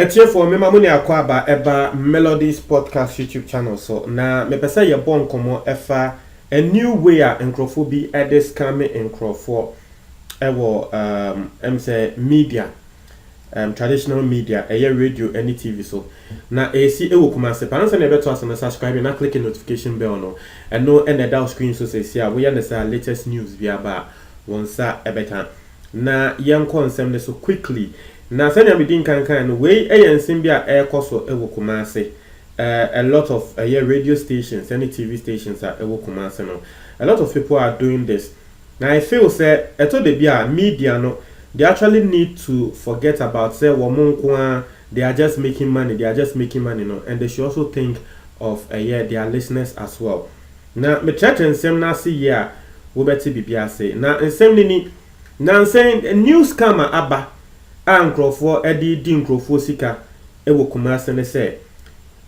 atiefoɔ mema mo ne akɔ aba ɛba melodies podcast youtube channel so na mepɛ sɛ yɛbɔ nkɔmmɔ ɛfa a new way a nkurɔfoɔ bi ɛde scamme nkurɔfoɔ ɛwɔ um, ɛm sɛ media ɛɛm traditional media, ɛyɛ radio ne TV so. Na ɛresi wɔ Kumasi paa. Ansa na yɛbɛto ase no, subscribe na click notification bell no. Ɛno na ɛda wo screen so seesei a, woyɛ no saa a latest news bi aba a, wo nsa bɛka. Na yɛnkɔ nsɛm no so quickly. Na sɛnea medi nkan kae no, wei yɛ nsɛm bi a ɛrekɔ so wɔ Kumasi. A lot of ɛyɛ radio stations ne TV stations a ɛwɔ Kumasi no, a lot of people are doing this. Na I feel sɛ ɛtɔ da bi a media no they actually need to forget about sɛ wɔn nko ara they are just making money they are just making money no and they should also think of ɛyɛ their listeners as well. Na me trɛtrɛ nsɛm no ase yie a wo bɛ te biribi ase. Na nsɛm no ni, Nansa yi new scam a aba a nkorɔfoɔ de redi nkorɔfoɔ sika wɔ Kumasi ne sɛ,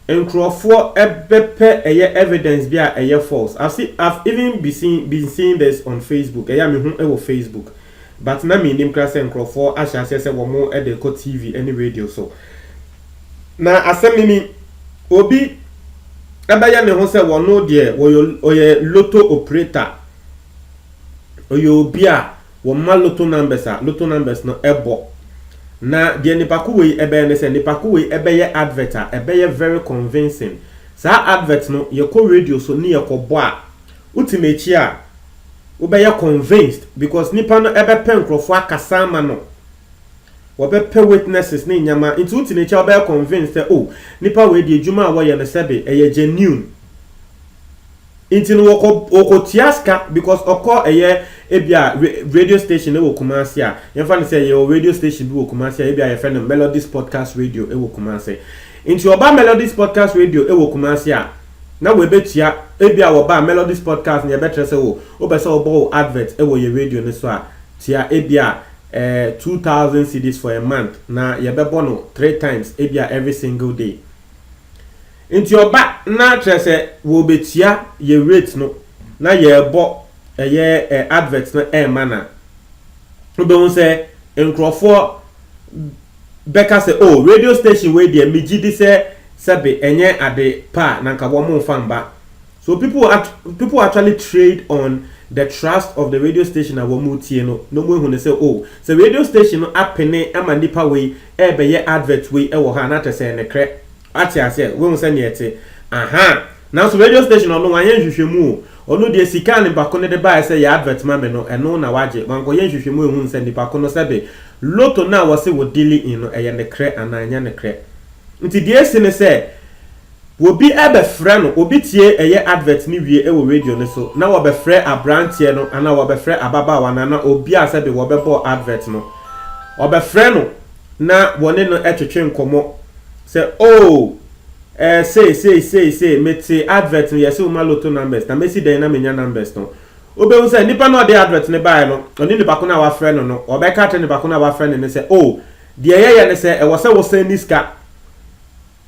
Nkurɔfoɔ bɛpɛ ɛyɛ evidence bi a ɛyɛ false. I've seen, I've even be seeing, been seeing this on Facebook, ɛyɛ a me hu wɔ Facebook but na me nnim koraa sɛ nkurɔfoɔ ahyɛ aseɛ sɛ wɔn de rekɔ TV ne radio so. Na asɛm no ni, obi bɛyɛ ne ho sɛ wɔno deɛ wɔyɛ, ɔyɛ lotto operator, ɔyɛ obi a Wɔma lotto numbers a lotto numbers no bɔ. Na deɛ nipako wei bɛyɛ ne sɛ nipako wei bɛyɛ advert a ɛbɛyɛ very convincing. Saa advert no yɛkɔ radio so ne yɛkɔbɔ a, wote n'akyi a, wobɛyɛ convinced because nipa no bɛpɛ nkorɔfoɔ akasa ama no. Wɔbɛpɛ witnesses ne nneɛma nti wote n'akyi a wobɛyɛ convinced sɛ oh nipa wei deɛ adwuma a wɔyɛ no sɛbe ɛyɛ genuine. Nti no wɔkɔ wɔkɔ tua sika because ɔkɔ ɛyɛ ebia radio station ɛwɔ Kumasi a yɛnfa no sɛ yɛwɔ radio station bi wɔ Kumasi a ebia yɛfɛ no Melodies Podcast Radio ɛwɔ Kumasi nti ɔba Melodies Podcast Radio ɛwɔ Kumasi a na wɛbɛtua ebia wɔba a Melodies Podcast no yɛbɛtrɛ sɛ wo wopɛ sɛ wɔbɔ wo advert ɛwɔ yɛ radio no so a tua ebia eh, 2000 cedis for a month na yɛbɛbɔ no three times ebia every single day. Nti ɔba na kyerɛ sɛ wɔɔbɛtua yɛ rate no na yɛɛbɔ ɛyɛ advert no ɛɛma no a, wobɛhu sɛ nkorɔfoɔ bɛka sɛ oh radio station wei deɛ megyedi sɛ sɛbe ɛnyɛ ade pa a na nka wɔmmfa mma. So people people actually trade on the trust of the radio station a wɔretie no na wɔahu no sɛ oh sɛ radio station no apene ma nipa wei ɛɛbɛyɛ advert wei wɔ ha a na kyerɛ sɛ ɛnokorɛ Ate aseɛ? Wobɛhu sɛdeɛ ɛte. Ahaa. Nanso radio station no, ɔno, wanyɛ nhwehwɛmu o. Ɔno deɛ, sika a nipa ko no de baeɛ sɛ yɛ advert ma me no, ɛno na wagye. Wankɔyɛ nhwehwɛmu anhunu sɛ nipa ko no, sɛbe Lotto no a wɔse wɔ deale in no, ɛyɛ nokorɛ anaa ɛnyɛ nokorɛ. Nti deɛ asi ne sɛ, obi bɛfrɛ no, obi tie ɛyɛ advert no wie wɔ radio no so, na wɔbɛfrɛ abranteɛ no, anaa wɔbɛfrɛ ababaawa no, anaa obi a sɛbe wɔbɛbɔɔ advert no, wɔbɛfrɛ no, na wɔne no twetwe nkɔmmɔ sɛ oh eh sei sei sei sei mete advert no yɛse woma lotto numbers na mesi dɛn na menya numbers no wobɛhu sɛ nipa no ɔde advert no baeɛ no ɔne nipa ko no a wafrɛ no no ɔbɛka akyerɛ nipa ko no a wafrɛ no no sɛ oh deɛ yɛyɛ ne sɛ ɛwɔ sɛ wosan ni sika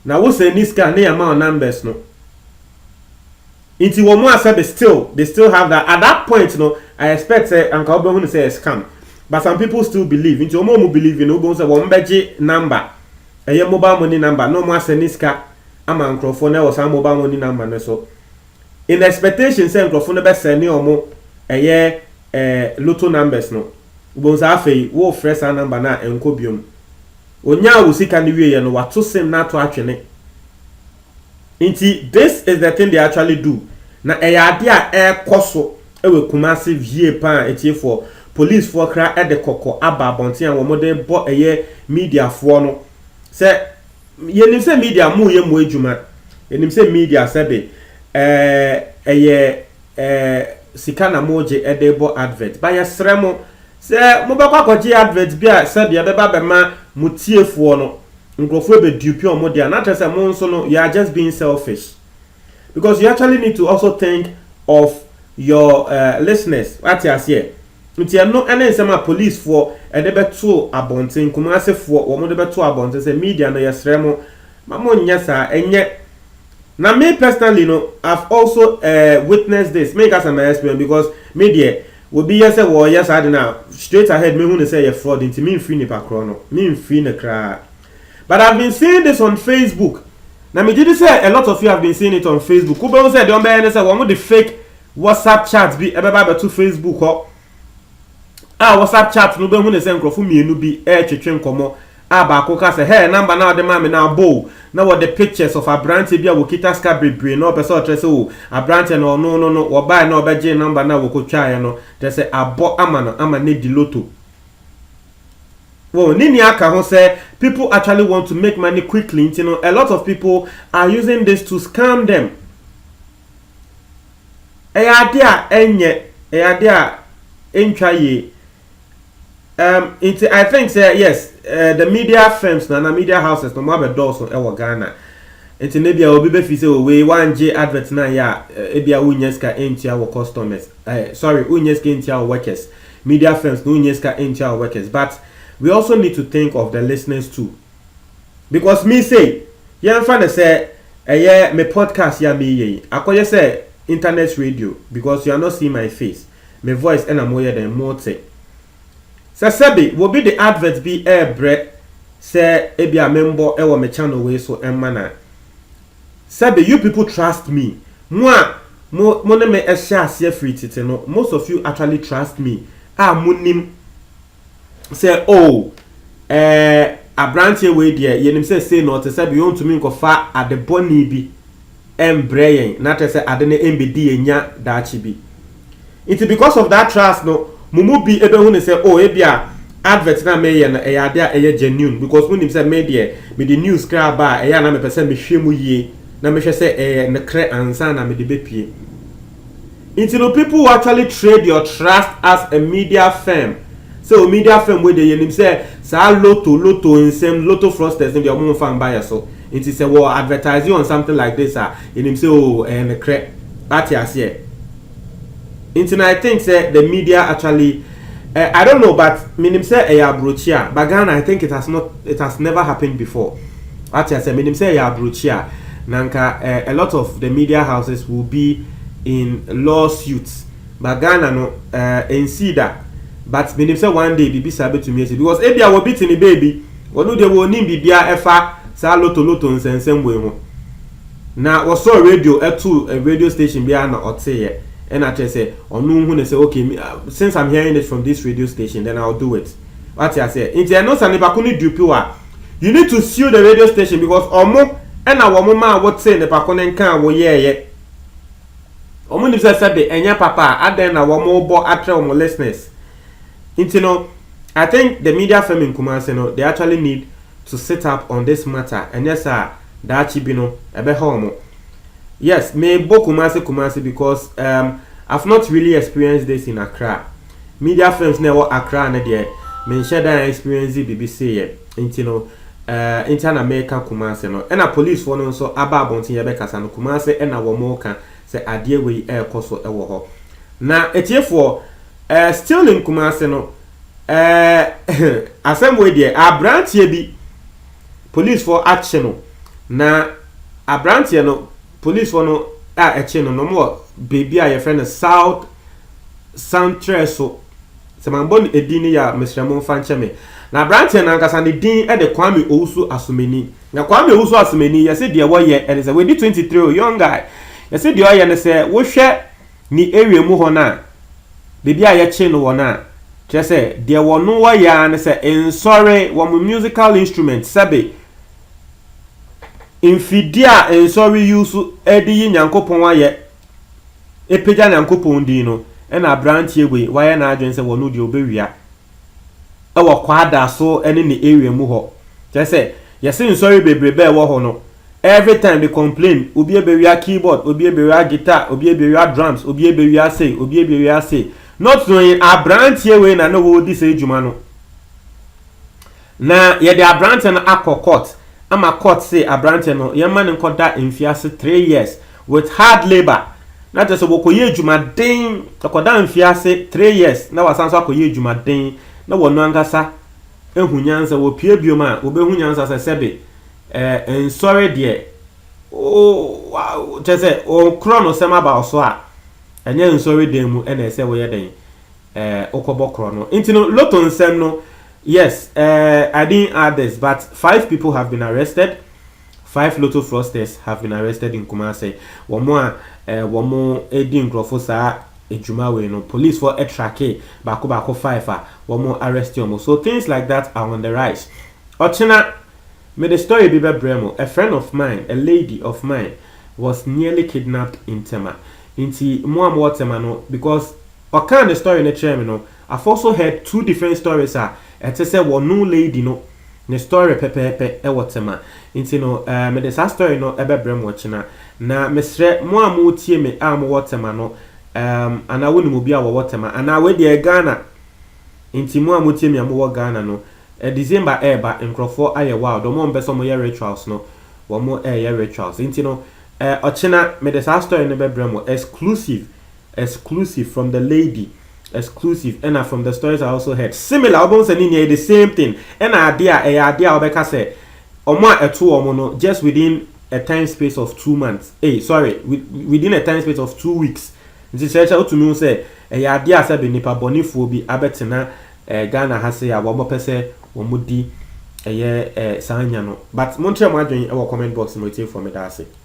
na wosan ni sika ne yɛma wo numbers no Nti wɔn a sɛbe still they still have that at that point no I expect sɛ anka wobɛhu no sɛ ɛyɛ scam but some people still believe nti wɔn a wɔn believe no wobɛhu sɛ wɔn bɛgye number ɛyɛ mobile money number na wɔn asɛne sika ama nkorɔfoɔ no ɛwɔ saa mobile money number no so in expectation sɛ nkorɔfoɔ no bɛsɛne wɔn ɛyɛ eh, lotto numbers no wobɛhu sɛ afei worefrɛ saa number no a ɛnkɔ biom onyaa wo sika no wieɛ no wato sim no ato atwene Nti this is the thing they actually do na ɛyɛ adeɛ a ɛrekɔ so wɔ Kumasi vie paa a atiefoɔ, policefoɔ koraa de kɔkɔ aba abɔnten a wɔn de rebɔ ɛyɛ mediafoɔ no sɛ yɛnim sɛ media moyɛ mo adwuma, yɛnim sɛ media sɛbe eh, ɛyɛ eh, sika na mogye de rebɔ advert ba yɛsrɛ mo sɛ mobɛkɔ akɔgye advert bi a sɛbe ɛbɛba bɛma mo tiefoɔ no Nkurɔfoɔ ɛbɛdupe wɔn deɛ a, na kyerɛ sɛ mo nso no you are just being selfish because you actually need to also think of your uh, listeners wate aseɛ nti ɛno ɛne nsɛm a policefoɔ ɛde bɛto abɔnten Kumasifoɔ wɔn de bɛto abɔnten sɛ media no yɛsrɛ mo ma mo nyɛ saa ɛnyɛ Na me personally no I've also eh witnessed this, menka sɛ ma experience because me deɛ obi yɛ sɛ wɔɔyɛ saa ade no a straight ahead mehu no sɛ ɛyɛ fraud nti memfiri nipa korɔ no, memfiri no koraa but I've been seeing this on Facebook na megye di sɛ a lot of you have been seeing it on Facebook, wobɛhu sɛ deɛ wɔbɛyɛ ne sɛ wɔde fake WhatsApp chat bi ɛbɛba abɛto Facebook hɔ. a WhatsApp chat no bɛhu no sɛ nkurɔfo mmienu bi retwetwe nkɔmmɔ a baako ka sɛ, Hey, number no a wode maa me no abɔ o, na wɔde pictures of aberanteɛ bi a ɔkita sika bebree na ɔpɛ sɛ ɔkyerɛ sɛ o, aberanteɛ no, ɔno no no, wɔbaeɛ na wɔbɛgyee number no a wɔkɔtwaeɛ no, kyerɛ sɛ abɔ ama no ama no adi lotto. Wɔn ne nea aka ho sɛ people actually want to make money quickly nti no, a lot of people are using this to scam them. ɛyɛ adeɛ a ɛnyɛ ɛyɛ adeɛ a ɛntwa yie um, nti i think sɛ yes uh, the media firms na na media houses no mo abɛdɔɔso ɛwɔ ghana nti na bia obi bɛfi sɛ owei oh, wangye advert no ayɛ a ebia eh, wonyɛ sika ɛntua wɔ customers eh, sorry wonyɛ sika ɛntua wɔ workers media firms no wonyɛ sika ɛntua wɔ workers but we also need to think of the listeners too Because me sei, yɛmfa no sɛ ɛyɛ me podcast yi a mereyɛ yi, akɔyɛ sɛ internet radio because you are not seeing my face, me voice ɛna moyɛ dɛn mote. Sɛ sɛbe obi de advert bi rebrɛ sɛ ebia membɔ wɔ me channel wei so mma no a, sɛbe you people trust me, mo a mo mo ne me hyɛɛ aseɛ firi tete no, most of you actually trust me a monim, sɛ, Oo, ɛɛ, aberanteɛ wei deɛ, yɛnim sɛ sei na ɔte, sɛdeɛ ɔntumi nkɔfa ade bɔne bi mbrɛ yɛn, na kyerɛ sɛ ade no mbɛdi yɛn nya daakye bi. Nti, because of that trust no, mo mu bi bɛhu no sɛ, Oh, ebia advert no a mereyɛ no, ɛyɛ adeɛ a ɛyɛ genuine, because wonim sɛ me deɛ, mede news kra ba a, ɛyɛ a na mepɛ sɛ mehwɛ mu yie, na mehwɛ sɛ ɛyɛ nokorɛ ansa na mede bɛpue. Nti no people who actually trade your trust as a media firm sɛ o media firm wei deɛ yɛnim sɛ saa lotto lotto nsɛm lotto fraudsters no deɛ ɔmo mfa mba yɛ so nti sɛ wɔ advertise on something like this a yɛnim sɛ o ɛyɛ nekrɛ wate aseɛ nti no I think sɛ the media actually Eh I don't know but menim sɛ ɛyɛ abrokyia but Ghana I think it has not it has never happened before wate aseɛ menim sɛ ɛyɛ abrokyia na nka eh a lot of the media houses will be in law suits but Ghana no eh ɛnsii da but menim sɛ one day biribi saa bɛtumi asi because ebia wɔ bi te ne baabi ɔno deɛ wɔ ɔnim biribiara ɛfa saa loto loto nsɛnsɛm wei ho. Na wɔsɔɔ radio too radio station biara na ɔteeɛ ɛna kyerɛ sɛ ɔno hu ne sɛ ok since I'm hearing it from this radio station then I'll do it wate aseɛ nti ɛno sa nipa ko no dupe wa you need to sue the radio station because ɔmo ɛna wɔn maa wo tee nipa ko no nkaa wo yɛɛyɛ wɔn nim sɛ sɛbe ɛnyɛ papa a adɛn na wɔn bɔ atrɛ wɔn listeners nti no I think the media firm in Kumasi no they actually need to sit up on this matter ɛnyɛ saa daakye bi no ɛbɛhaw mo yes me bɔ kumase kumase because um, I've not really experienced this in Accra media films na ɛwɔ Accra ne deɛ menhyɛ dan experience bibi seeyɛ nti no uh, nti na meka kumase no ɛna police fo no nso aba abɔnten yɛbɛkasa no kumase ɛna wɔn mo ka sɛ adeɛ wei ɛrekɔ so ɛwɔ hɔ na atiefoɔ uh, still in kumase no Ɛɛ asɛm wei deɛ, aberanteɛ bi polisfoɔ akye no, na aberanteɛ no polisfoɔ no a ɛkye no no wɔ baabi a yɛfrɛ no South Santrɛ so, sɛ mambɔ no edin no yɛ a mesrɛ mo mfa nkyɛ me. Na aberanteɛ no ankasa ne din de Kwame Owusu Asomani. Na Kwame Owusu Asomani yɛse deɛ wɔyɛ ɛne sɛ, wadi 23 o, young guy, yɛse deɛ ɔyɛ ne sɛ wohwɛ Ne awiamu hɔ no a, baabi a yɛkyee no wɔ no a, kyerɛ sɛ, deɛ wɔno wɔyɛ ara ne sɛ, nsɔre, wɔn musical instrument, sɛbe, mfidie a nsɔre use de yi Nyankopɔn ayɛ, apagya Nyankopɔn din no, ɛna aberanteɛ wei, wayɛ n'adwene sɛ wɔno deɛ ɔbɛwia. wɔ kwaada so ne ne area mu hɔ. Kyerɛ sɛ, yɛse nsɔre bebrebe a ɛwɔ hɔ no, every time they complain, obi abewia keyboard, obi abewia guitar, obi abewia drums, obi abewia sei, obi abewia sei. Not knowing abranteɛ wei na na ɔredi saa adwuma no. Na yɛde abranteɛ no akɔ court ama court se abranteɛ no yɛmma no nkɔ da mfiase three years with hard labour na kyerɛ sɛ wɔkɔ yɛ adwuma den ɔkɔ da mfiase three years na wasan so akɔ yɛ adwuma den na wɔno ankasa ahu nyansa wɔ pie biom a wɔbɛhu nyansa sɛ sɛbe eh nsɔre deɛ o wa kyerɛ sɛ wɔkorɔ no sɛm aba ɔso a ɛnyɛ nsɔre dan mu ɛna ɛsɛ wɔyɛ dɛn Eh, wokɔbɔ korɔ no nti no lotto nsɛm no yes eh, I didn't add this but five people have been arrested five lotto fraudsters have been arrested in Kumase wɔn a eh, wɔn di nkurɔfo saa adwuma wei no police for ɛtrake baako baako five a wɔn arrest wɔn so things like that are on the rise ɔkyena me the story bi bɛbrɛ mu a friend of mine a lady of mine was nearly kidnapped in Tema nti mo a mo wɔ Tema no because Ɔkaa ne story no kyerɛɛ me no, I've also heard two different stories a ɛte sɛ wɔno lady no ne story pɛpɛɛpɛ wɔ tema nti no eh mede saa story no bɛbrɛ mo ɔkyena. Na mesrɛ mo a moretie me a mowɔ tema no ehm anaa wonim obi a wɔwɔ tema anaa wei deɛ Ghana nti mo a motie me a mowɔ Ghana no eh December reba nkorɔfoɔ ayɛ wild wɔn a wɔpɛ sɛ wɔyɛ rituals no wɔn reyɛ rituals nti no eh ɔkyena mede saa story no bɛbrɛ mo exclusive Exclusive from the lady Exclusive ɛna from the stories I also heard Similar wobɛhu sɛ ne nyinaa yɛ the same thing ɛna adeɛ a ɛyɛ adeɛ a wobɛka sɛ wɔn a ɛto wɔn no just within a time space of two months ei sorry within a time space of two weeks nti kyerɛ sɛ wotumi hu sɛ ɛyɛ adeɛ a sɛbe nipa bɔnefoɔ bi abɛtena eh, Ghana ha sei a wɔn pɛ sɛ wɔn di ɛyɛ eh, saa nya no but monkyerɛ mo adwene wɔ comment box mu atiefoɔ meda ase.